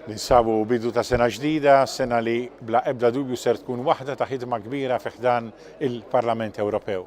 Ninsabu bidu ta' sena ġdida, sena li bla ebda dubju ser tkun waħda ta' ħidma kbira fi ħdan il-Parlament Ewropew.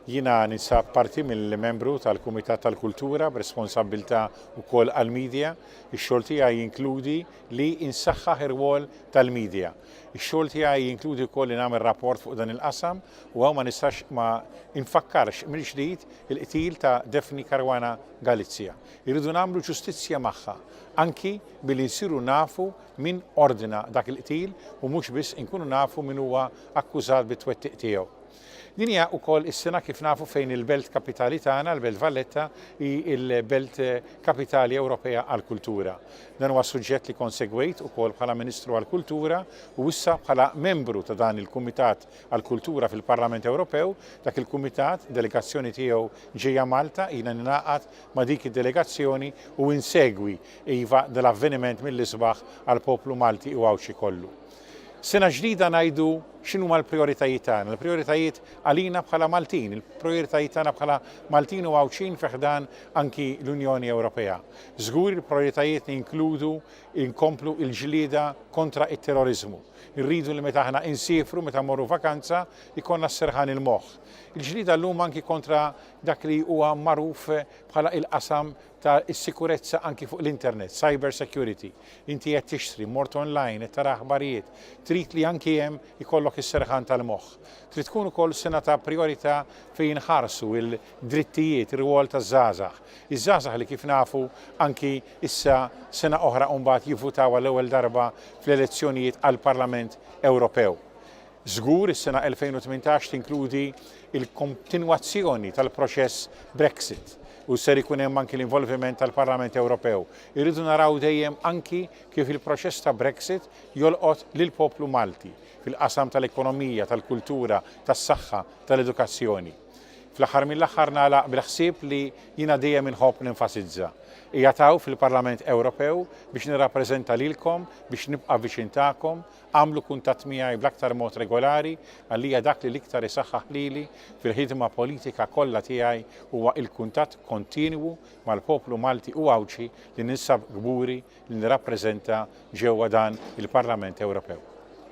Jiena ninsab parti mill-membru tal-Kumitat tal-Kultura b'responsabbiltà wkoll għall-media. Ix-xogħol tiegħi jinkludi li insaħħaħ ir-rwol tal-media. Ix-xogħol tiegħi jinkludi wkoll li nagħmel rapport fuq dan il-qasam u hawn ma nistax ma infakkarx mill-ġdid il-qtil ta' Daphne Caruana Galizia. Irridu nagħmlu ġustizzja magħha, anki billi nsiru nafu min ordna dak il-qtil u mhux biss inkunu nafu min huwa akkużat bit-twettiq tiegħu. Din hija wkoll is-sena kif nafu fejn il-belt kapitali tagħna, l-Belt Valletta, hi l-Belt Kapitali Ewropea għall-Kultura. Dan huwa suġġett li konsegwejt ukoll bħala Ministru għall-Kultura u issa bħala membru ta' dan il-Kumitat għall-Kultura fil-Parlament Ewropew, dak il-Kumitat, delegazzjoni tiegħu ġejja Malta, ilna ningħaqad ma' dik id-delegazzjoni u insegwi, iva, dal-avveniment mill-isbaħ għall-poplu Malti u Għawdxi kollu. Sena ġdida ngħidu x'inhuma l-prijoritajiet tagħna, l-prijoritajiet għalina bħala Maltin, il-prijoritajiet tagħna bħala Maltin u Għawdxin fi ħdan anki l-Unjoni Ewropea. Żgur il-prijoritajiet li jinkludu nkomplu l-ġlieda kontra t-terroriżmu. Irridu li meta aħna insiefru, meta mmorru vakanza, ikollna s-serħan il-moħħ. Il-ġlieda llum anki kontra dak li huwa magħruf bħala il-qasam ta' is-sikurezza anki fuq l-internet, cyber security. Inti qed tixtri, mort online, qed tara aħbarijiet, trid li anki hemm ikollok is-serħan tal-moħħ. Trid tkun ukoll sena ta' prijorità fejn jinħarsu il-drittijiet, ir-rwol taż-żgħażagħ. Iż-żgħażagħ li kif nafu anki issa sena oħra mbagħad jivvutaw għall-ewwel darba fl-elezzjonijiet għall-Parlament Ewropew. Żgur, is-sena 2018 tinkludi l-kontinwazzjoni tal-proċess Brexit u ser ikun hemm anki l-involviment tal-Parlament Ewropew. Irridu naraw dejjem anki kif il-proċess ta' Brexit jolqot lill-poplu Malti fil-qasam tal-ekonomija, tal-kultura, tas-saħħa, tal-edukazzjoni. Fl-aħħar mill-aħħar nagħlaq bil-ħsieb li jiena dejjem inħobb nenfasizza. Qiegħed hawn fil-Parlament Ewropew biex nirrappreżenta lilkom, biex nibqa' viċin tagħkom, Agħmlu kuntatt miegħi bl-aktar mod regolari għalija dak li l-iktar isaħħaħ lili fil-ħidma politika kollha tiegħi huwa il-kuntatt kontinwu mal-poplu Malti u Għawdxi li ninsab kburi li nirrappreżenta ġewwa dan il-Parlament Ewropew.